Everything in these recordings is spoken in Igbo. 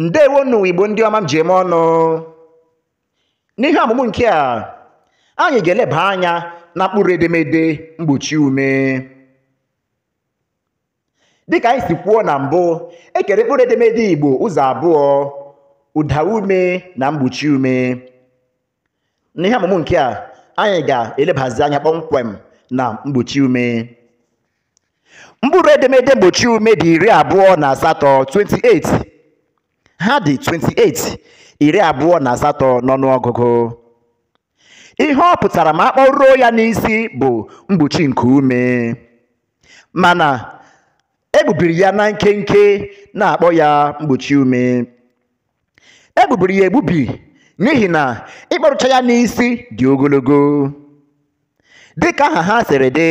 ndewo nụ igbo ndị ọma m ji eme ọnụ n'ihe ọmụmụ nke a anyị ga-eleba anya na mkpụrụ edemede mgbochi ume dịka anyị si kwuo na mbụ e kere mkpụrụ edemede igbo ụzọ abụọ ụda ume na mgbochi ume n'ihe ọmụmụ nke a anyị ga-elebazi anya kpọmkwem na mgbochi ume mkpụrụ edemede mgbochi ume dị iri abụọ na asatọ 28 ha dị 28 iri abụọ na asatọ n'ọnụọgụgụ ihe ọ pụtara ma a kpọruo ya n'isi bụ mgbochi nku ume mana e gbubiri ya na nkenke na-akpọ ya mgbochi ume e gbubiri ya egbubi n'ihi na ịkpọrucha ya n'isi dị ogologo dịka aha ha siri dị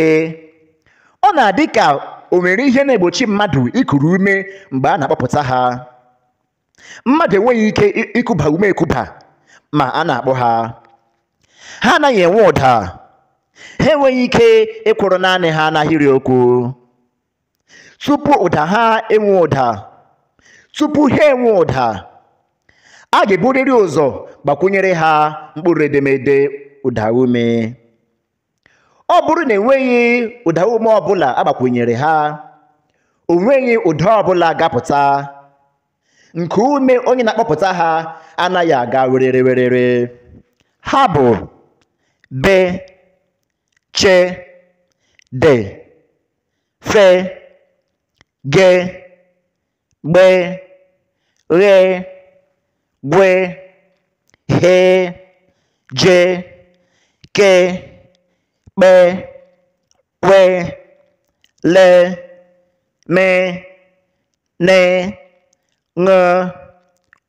ọ na-adị ka o nwere ihe na-egbochi mmadụ ikuru ume mgbe a na-akpọpụta ha mmadụ enweghị ike i- ikuba ume ekuba ma a na-akpọ ha ha anaghị enwe ụda ha enweghị ike ịkwụrụ naanị ha n'ahịrị okwu tupu ụda ha enwe ụda tupu ha enwe ụda a ga-eburịrị ụzọ gbakwunyere ha mkpụrụ edemede ụda ume ọ bụrụ na e nweghị ụda ume ọbụla a gbakwunyere ha o nweghị ụda ọbụla ga-apụta nku ume onye na-akpọpụta ha anaghị aga werere werere ha bụ be che de fe ge gbe ghe gwe he je ke kpe kwe le me ne ṅe